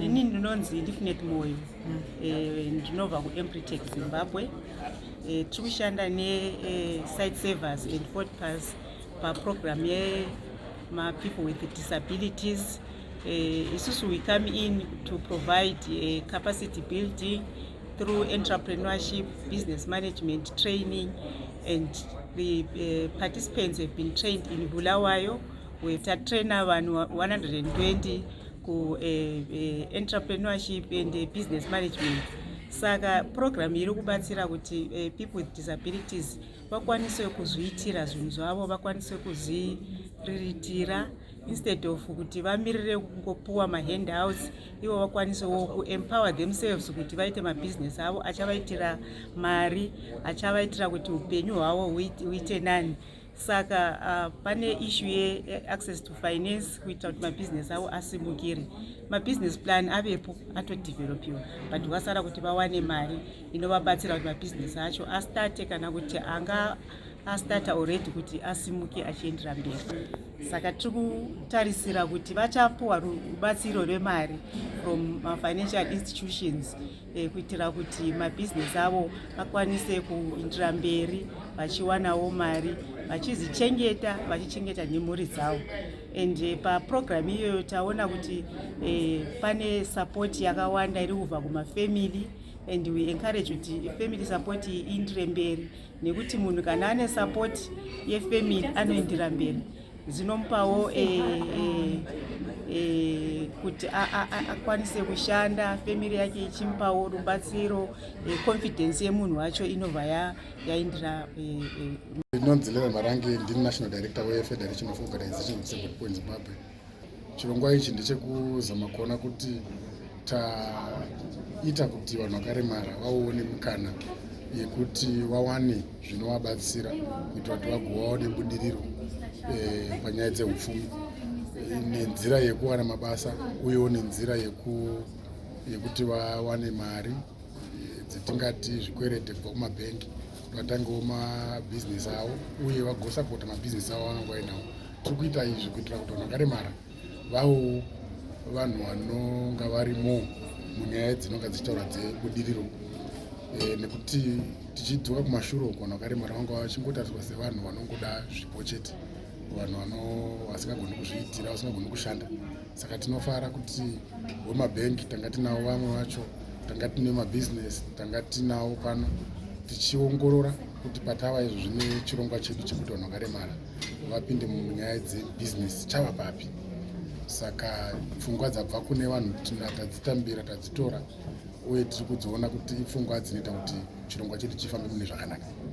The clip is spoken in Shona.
ini ndinonzi ndifinet moyo mm. eh, ndinobva kuempritec zimbabwe eh, tiri kushanda nesite eh, servers and podpas paprogram yemapeople with disabilities isusu we come in to provide capacity building through entrepreneurship business management training and the participants have been trained in bulawayo We tatrainer vanhu 120 ku eh, eh, entrepreneurship and eh, business management saka program iri kubatsira kuti eh, people with disabilities vakwanise kuzviitira zvinhu zvavo vakwanise kuzviriritira instead of kuti vamirire kungopuwa mahandouts ivo vakwanisewo kuempower themselves kuti vaite mabusiness avo achavaitira mari achavaitira kuti upenyu hwavo huite nani saka uh, pane ishu yeaccess to finance kuita kuti mabhizinesi avo asimukire mabhizinesi plan avepo atodevelopiwa but wasara kuti vawane mari inovabatsira kuti mabhizinesi acho astate kana kuti anga astata already kuti asimuke achiendera mberi saka tiri kutarisira kuti vachapuwa rubatsiro rwemari from mafinancial institutions eh, kuitira kuti mabhizinesi avo akwanise kuindira mberi vachiwanawo mari vachizichengeta vachichengeta nemhuri dzavo and eh, paprogramu iyoyo taona kuti eh, pane sapoti yakawanda iri kubva kumafamily and we encourage kuti family support iindire mberi nekuti munhu kana ane support yefamily anoindira mberi zvinomupawo eh, eh, eh, kuti akwanise kushanda family yake ichimupawo rubatsiro confidence yemunhu wacho inobva yaindira ndinonzi leve marangi ndini national director wefederation of organization of second point zimbabwe Chirongwa ichi ndechekuzama kuona kuti taita kuti vanhu vakaremara vaone mukana yekuti vawane zvinovabatsira kuitira kuti vagovawo nebudiriro eh, panyaya dzeupfumi nenzira yekuwana mabasa uyewo nenzira yekuti vawane mari eh, dzetingati zvikwerete kubva kumabhengi vatangewo mabhizinesi avo uye vagosapota mabhizinesi avo vanonga vainawo tiri kuita izvi kuitira kuti vanhu vakaremara vawo vanhu vanonga varimo munyaya dzinonga dzichitaura dzebudiriro eh, nekuti tichidzoka kumashure uko vanhu vakaremara vanga vachingotariswa sevanhu vanongoda zvipo chete vanhu vasingagoni kuzviitira vasingagoni kushanda saka tinofara kuti wemabhengi tanga tinawo vamwe vacho tanga tine mabhizinesi tanga tinawo pano tichiongorora kuti patava izvo zvine chirongwa chedu chekuti vanhu vakaremara vapinde munyaya dzebhizinesi chava papi saka pfungwa dzabva kune vanhu tadzitambira tadzitora uye tiri kudziona kuti ipfungwa dzinoita kuti chirongwa chedu chifambe mune zvakanaka